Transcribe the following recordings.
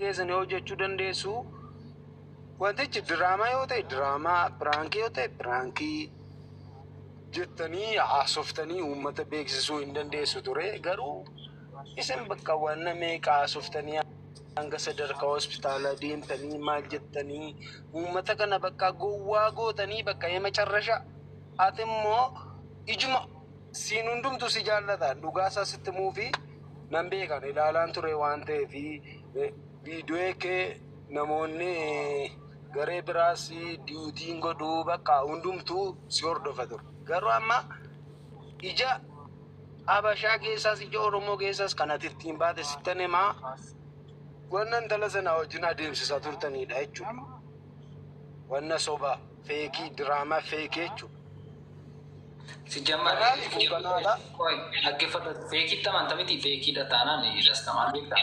keessan yoo hojjechuu dandeessu wantichi diraamaa yoo ta'e diraamaa piraankii yoo ta'e piraankii jettanii haasoftanii uummata beeksisuu hin dandeessu ture garuu isin bakka waan meeqa haasoftanii Hanga sadarkaa hospitaala deemtanii maal jettanii uummata kana bakka gowwaa gootanii bakka ee macarrasha ati immoo ijuma siin hundumtu si jaallataan dhugaa isaa sitti muufi nan beekan ilaalaan ture waan ta'eef viidiyoo kee namoonni garee biraas diitiin godhuu bakka hundumtuu si hordofa ture garuu amma ija Habashaa keessaas ija Oromoo keessaas kan ati ittiin baate sittan himaa wanna intala sana wajjin adeemsisaa turtanidha jechuudha. Wanna sobaa feekii diraamaa feekii jechuudha. Sijjammaa Kanaaf kun kanaadha. dhaggeeffadhu feekiitti amanta miti feekiidha taanaan irras tamaan beektaa.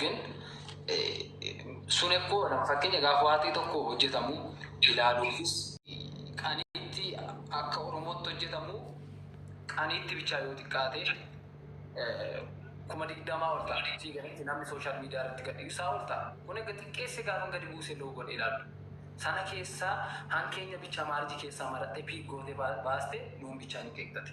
ግን sun ekkoo nama fakkeenya gaafa waatii tokko hojjetamu ilaaluufis qaniitti akka oromootti hojjetamu qaniitti bichaa yoo xiqqaate kuma digdamaa ol ta'a sii galatti namni sooshaal miidiyaa irratti gadi isaa ol ta'a kun egaa xiqqeesse gaafa gadi buuse loo godhe ilaalu sana keessaa hankeenya bichaa maarji keessaa maratte piig goote baaste nuun bichaa nu qeeqxate.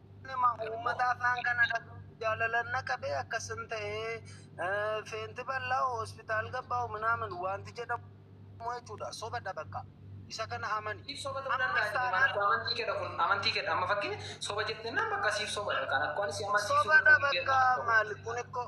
Nama uummata afaan kana dhaga'uuf jaalalan na qabee akkasin ta'ee eh, feenti bal'aa hospitaal gabbaa'u minaamin wanti jedhamu jechuudha sobadha bakka isa kana amani Siif soba ta'uu danda'a jedhe maal akkoo amantii keedha kun amantii keedha amma fakkeenya soba jettennaan bakka siif sobadha kan akkoo ani si amansiisuu sobadha danda'u bakka maal kun ikkoo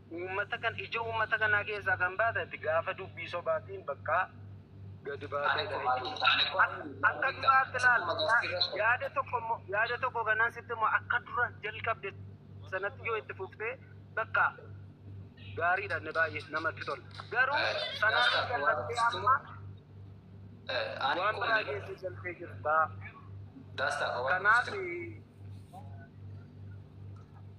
Uummata kan ija uummata kanaa keessaa kan baate ati gaafa dubbii sobaatiin bakkaa gadi baatee dha jechuudha. Akka duraatti laal yaada tokko immoo yaada tokko kanaan sitti immoo akka dura jalqabde sanatti yoo itti fuftee bakka gaariidha inni baay'ee namatti tola. Garuu sanarra jalqabdee amma waan biraa keessa jalqabdee jirta. Kanaaf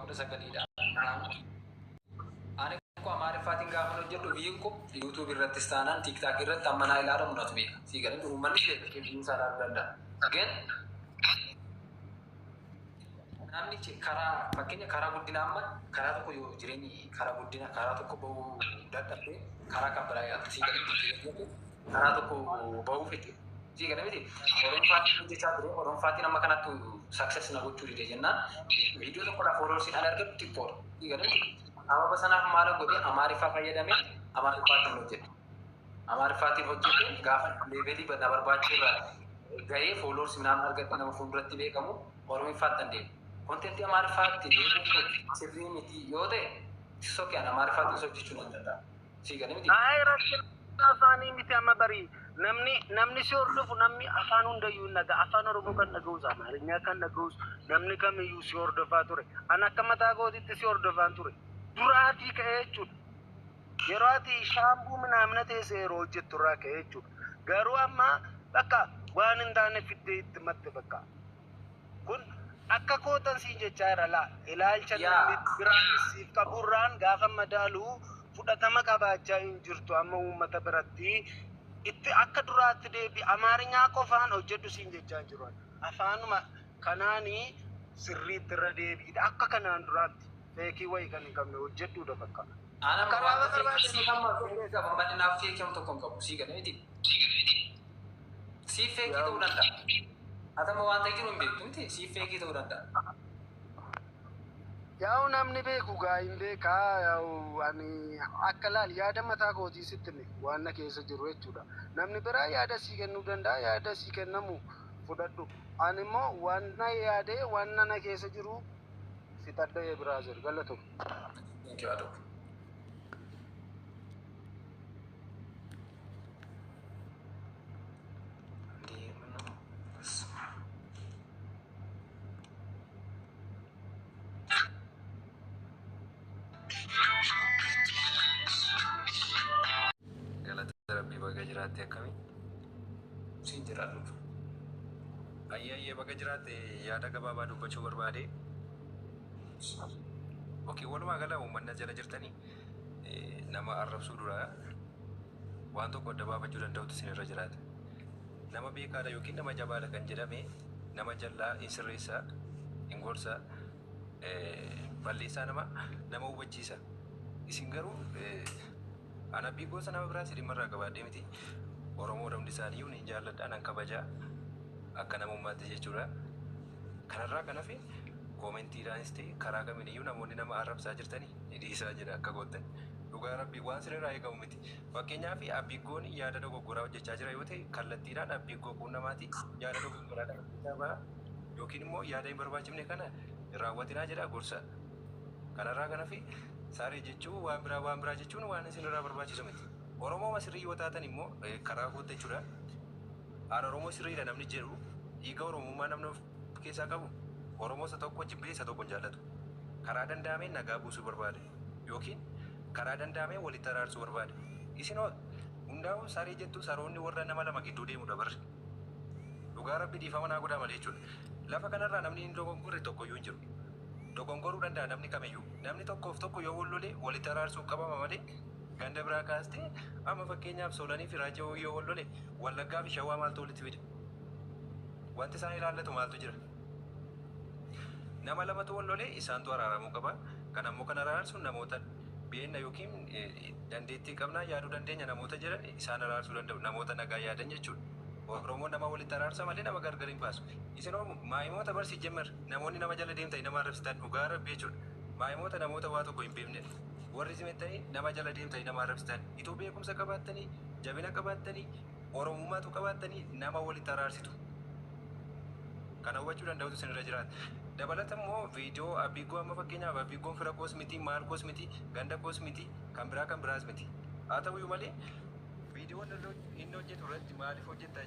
kudha sagaliidha. Ani kun amaariffaatiin gaafa hojjedhu viiyuun kun yuutuubii irrattis taanaan tiiktaakii irratti amma naa ilaalamu natu beeka. Sii galee uummanni beekee viiyuu isaa ilaaluu danda'a. Gin namni ci- karaa fakkeenya karaa guddina amma karaa tokko yoo jireenyi karaa guddina karaa tokko bahuu dadhabde karaa kan biraa yaaltu sii galee karaa tokko bahuu fedhe. Sii gala miti Oromfaatiin hojjechaa ture. Oromfaatiin amma kanattu success na gochuu dide jennaan viidiyoo tokkodha followers an argadhu xiqqoodha. Sii gala miti sababa sanaaf maala godhe Amaariffaa fayyadame Amaariffaatiin hojjete. Amaariffaatiin hojjete gaafa leevelii na barbaachisu irra gahee followers minaan argadhe nama fuulduratti beekamu Oromiffaatti an deemu. Kontentii Amaariffaatti deemuun kun sirrii miti yoo ta'e sokkee an Amaariffaatiin hojjechuu nan danda'a. sii gale miti. Ayi rakkina afaanii miti amma bari namni namni si hordofu namni afaan hundayyuu hin dhaga afaan oromoo kan dhaga'us amaarinyaa kan dhaga'us namni kamiyyuu si hordofaa ture an akka mataa kootitti si hordofaan ture duraatii ka'ee jechuudha yeroo ati shaambuu minaamina teessee yeroo hojjettu irraa ka'ee jechuudha garuu amma bakka waan hin taane fiddee itti matte bakka Kun akka kootan siin jechaa jira laa ilaalcha namni biraanis siif qaburraan gaafa madaalu fudhatama qabaachaa hin jirtu amma uummata biratti itti akka duraatti deebi amaarinyaa qofaan hojjedhu siin jechaa hin jiru afaanuma kanaani sirriitti irra deebiidha akka kanaan duraatti feekii wayii kan hin qabne hojjedhuudha bakka Ana amma waan ta'eef ishii amma feeree qaba malee naaf feekii amma tokko hin qabu sii galee miti. Siif feekii ta'uu danda'a. Ati amma waan ta'e jiru hin beektu miti siif feekii ta'uu danda'a. Yaa'u namni beeku gaa hin beekaa yaa'u ani akka laal yaada mataa kootii sitti hime waan na keessa jiru jechuudha. Namni biraa yaada sii kennuu danda'a yaada sii kennamu fudhadhu. Ani immoo waan na yaadee waan na keessa jiru fixadha ee biraazer galatoomi. Thank you, Adok. Galata Rabbii baga jiraatte akkamii? Siin jiraadhuuf. Ayyee ayyee baga jiraatte yaada gabaabaa dubbachuu barbaade. Ok, walumaa gala uummanna jala jirtanii eh, nama arrabsuu dura waan tokko adda baafachuu danda'utu isin irra jiraata. Nama beekaadha yookiin nama jabaadha kan jedhame nama jallaa hin sirreessaa, hin gorsaa, eh, balleessaa nama nama hubachiisa. Isin garuu eh, An abdii gosa nama biraa silima irraa qabaadhee miti. Oromoon hundi isaaniiyyuu nin jaalladha, nan kabaja. Akka namummaatti jechuudha. Kanarraa kan hafe koomentiidhaanis ta'e karaa kamiiniyyuu namoonni nama arrabsaa jirtani dhiisaa jedha akka koottan. Dhugaa Rabbii waan sirrirraa eegamu miti. Fakkeenyaaf Abbiiggoon yaada dogoggoraa hojjechaa jira yoo ta'e kallattiidhaan Abbiiggoo quunnamaati yaada dogoggoraa kana keessaa bahaa yookiin immoo yaada hin barbaachifne kana hin raawwatinaa jedhaa gorsaa. Kanarraa kan hafe saree jechuun waan biraa waan biraa jechuun waan isinirraa barbaachisu miti. Oromooma sirrii yoo taatan immoo eh, karaa kootta jechuudha. Aan Oromoo sirriidha namni jedhu dhiiga Oromummaa namni of keessaa qabu Oromoo isa tokko jibbee isa tokko hin jaallatu. Karaa danda'ameen nagaa buusuu barbaada yookiin karaa danda'ameen walitti araarsuu barbaada. Isin hoo hundaa'uu saree jettu saroonni warra nama lama gidduu deemudha barri. Dhugaa rabbi dhiifama naa godhaa malee jechuudha. Lafa kanarraa namni hin dogoggorre tokkoyyuu hin jiru. Dogongoruu danda'a namni kamiyyuu. Namni tokkoof tokko yoo wal lole walitti araarsuuf qabama malee ganda biraa kaastee amma fakkeenyaaf Soolanii fi Raajjii Hawwii yoo wal lole Wallaggaa fi Shawaa maaltu walitti fide? Wanti isaan ilaallatu maaltu jira? Nama lamatu wal lole isaantu araaramuu qaba. Kan ammoo kan araarsu namoota beenna yookiin dandeettii qabnaa yaaduu dandeenya namoota jedhan isaan araarsuu danda'u. Namoota nagaa yaadan jechuudha. Oromoon nama walitti araarsa malee nama gargar hin baasu. Isin hoo maayimoota bar sijjemmar. Namoonni nama jala deemtani nama arrabsitan dhugaa rabbi jechuudha maayimoota namoota waa tokko hin beeknedha warri zimettani nama jala deemtani nama arrabsitan ituu beekumsa qabaattani jabina qabaattani oromummaa utuu qabaattani nama walitti araarsitu kana hubachuu danda'utu isin irra jiraata dabalata immoo viidiyoo abbiiggoo amma fakkeenyaaf abbiiggoon fira koos miti maal koos miti ganda koos miti kan biraa kan biraas miti haa ta'uyyuu malee viidiyoon inni hojjetu irratti maaliif hojjetta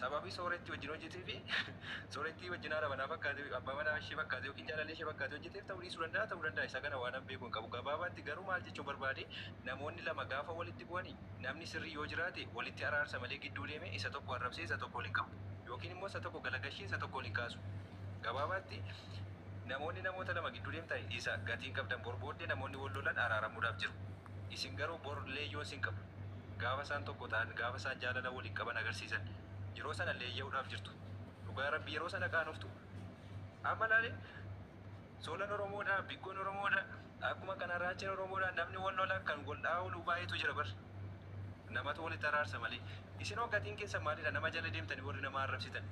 Sababii soorettii wajjin hojjetee fi soorettii wajjin haadha manaa fakkaatee, abbaa manaa ishee fakkaatee ykn jaalallee ishee fakkaatee hojjeteef ta'uu dhiisuu danda'a, ta'uu danda'a isa kana waanan beeku hin qabu. Gabaabaatti garuu maal jechuu barbaade namoonni lama gaafa walitti bu'ani namni sirrii yoo jiraate walitti araarsa malee gidduu deemee isa tokko arrabsee isa tokko ol hin qabu ykn immoo isa tokko galagashee isa tokko ol hin kaasu. Gabaabaatti namoonni namoota lama gidduu deemtani isa gatiin qabdan bor booddee namoonni wal lolan araaramuudhaaf jiru. Isin garuu bor leeyyoon sin qabu. Gaafa isaan tokko ta'an, gaafa isaan jaalala waliin qaban agarsiisan, yeroo sana leeyya'uudhaaf jirtu. Dhugaa Rabbii yeroo sana qaanoftu. Amma laali, Soolan Oromoodha, Biggoon Oromoodha, akkuma kana Raacheen Oromoodha, namni wal lola, kan wal dha'aa oolu baay'eetu jira bar. Namatu walitti araarsa malee. Isin hoo gatiin keessan maalidha nama jala deemtanii warri nama arrabsitan?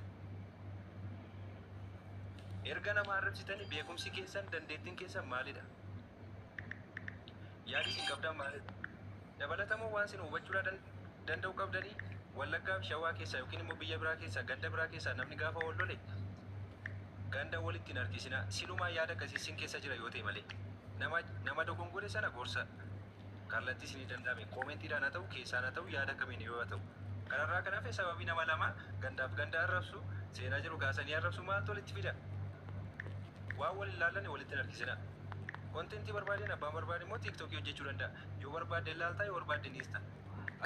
Erga nama arrabsitanii beekumsi keessan, dandeettiin keessan maalidha? Yaadi isin qabdaan maalidha? Dabalatamoo waan sinu hubachuudhaa dan danda'u qabdanii? Wallaggaa fi Shawaa keessaa yookiin immoo biyya biraa keessaa ganda biraa keessaa namni gaafa wal lole ganda walitti hin harkisinaa. Silumaa yaada akkasii sin keessa jira yoo ta'e malee. Nama nama dogongore sana gorsa kallattii isinii danda'ame koomentiidhaan haa ta'u keessaan haa ta'u yaada kamiin yoo haa ta'u. Kanarraa kan hafe sababii nama lama gandaaf ganda arrabsu seenaa jiru kaasanii arrabsu maaltu walitti fida? Waan wal hin laallanne walitti hin harkisinaa. Kontentii barbaadeen abbaan barbaade immoo TikTok hojjechuu danda'a. Yoo barbaadde ilaalta, yoo barbaadde niista.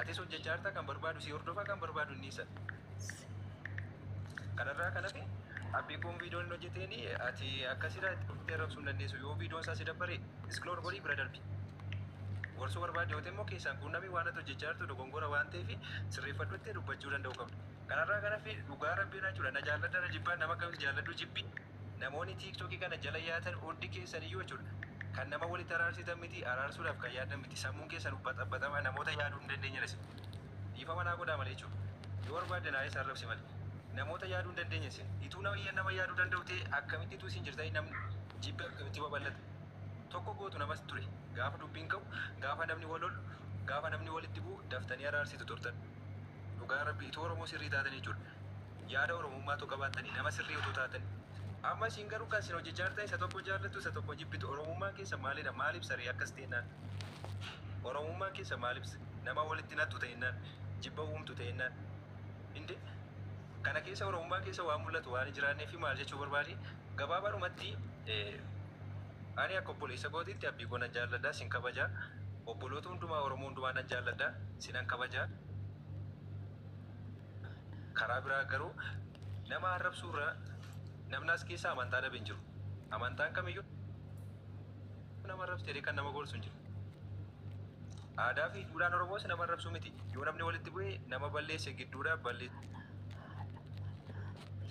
Atis hojjechaa jirta, kan barbaadu si hordofa, kan barbaadu niisa. Kanarraa kan hafe appii kun viidiyoon hin hojjeteen ati akkasirraa itti dhuftee rabsuu hin dandeessu. Yoo viidiyoon isaa si dabbare isknoor godhii bira darbi. Gorsuu barbaadde yoo ta'e immoo keessaan quunnami waan ati hojjechaa jirtu dogongora waan ta'eef sirreeffadhu jettee dubbachuu danda'uu qabda. Kanarraa kan hafe dhugaa rabbii irraa jechuudha na jaalladha na jibbaa nama akkamitti jaalladhu jibbi. Namoonni TikTok kana jala yaatan hundi keessan iyyuu jechuu dha. Kan nama walitti araarsitan miti, araarsuudhaaf kan yaaddan miti. Sammuun keessan baxabbaxamaa, namoota yaaduu hin dandeenye dha isin. Dhiifama naa godhaa malee jechuu dha. Yoo barbaadde naayis arrabsi malee. Namoota yaaduu hin dandeenye isin. Ituu namayyan nama yaaduu danda'u ta'ee akkamitti ituu isin jirtanii namni jibbi akkamitti babal'ata? Tokko gootu namas ture. Gaafa dubbiin ka'u, gaafa namni wal lolu, gaafa namni walitti bu'u daftanii araarsitu turtan. Dhugaa Rabbii ituu Oromoo sirrii taatanii jechuu dha. yaada Oromummaa utuu qabaattanii, nama sirrii utuu taatanii. Amma isin garuu kan isin hojjechaa jirtan isa tokko jaallattu, isa tokko jibbitu. Oromummaan keessan maali dha? Maal ibsa ree akkas teennaan? Oromummaan keessan maal ibsa? Nama walitti naqxu teennaan? Jibba uumtu teennaan? Indee! Kana keessa Oromummaa keessa waan mul'atu waan hin jiraannee fi maal jechuu barbaade? Gabaabaadhumatti ani akka obboleessa kootiitti abbii koo nan jaalladha, sin kabaja. Obboloota hundumaa Oromoo hundumaa nan jaalladha, sinan kabaja. Karaa biraa garuu nama arrabsuu irra namni as keessa amantaa dhabe hin jiru. Amantaan kamiyyuu nama arrabsite jedhee kan nama gorsu hin jiru. Aadaa fi duudhaan Oromoos nama arrabsuu miti. Yoo namni walitti bu'e nama balleesse gidduudha balleessa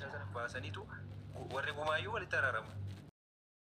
sana baasaniitu warri gumaayyuu walitti araaramu.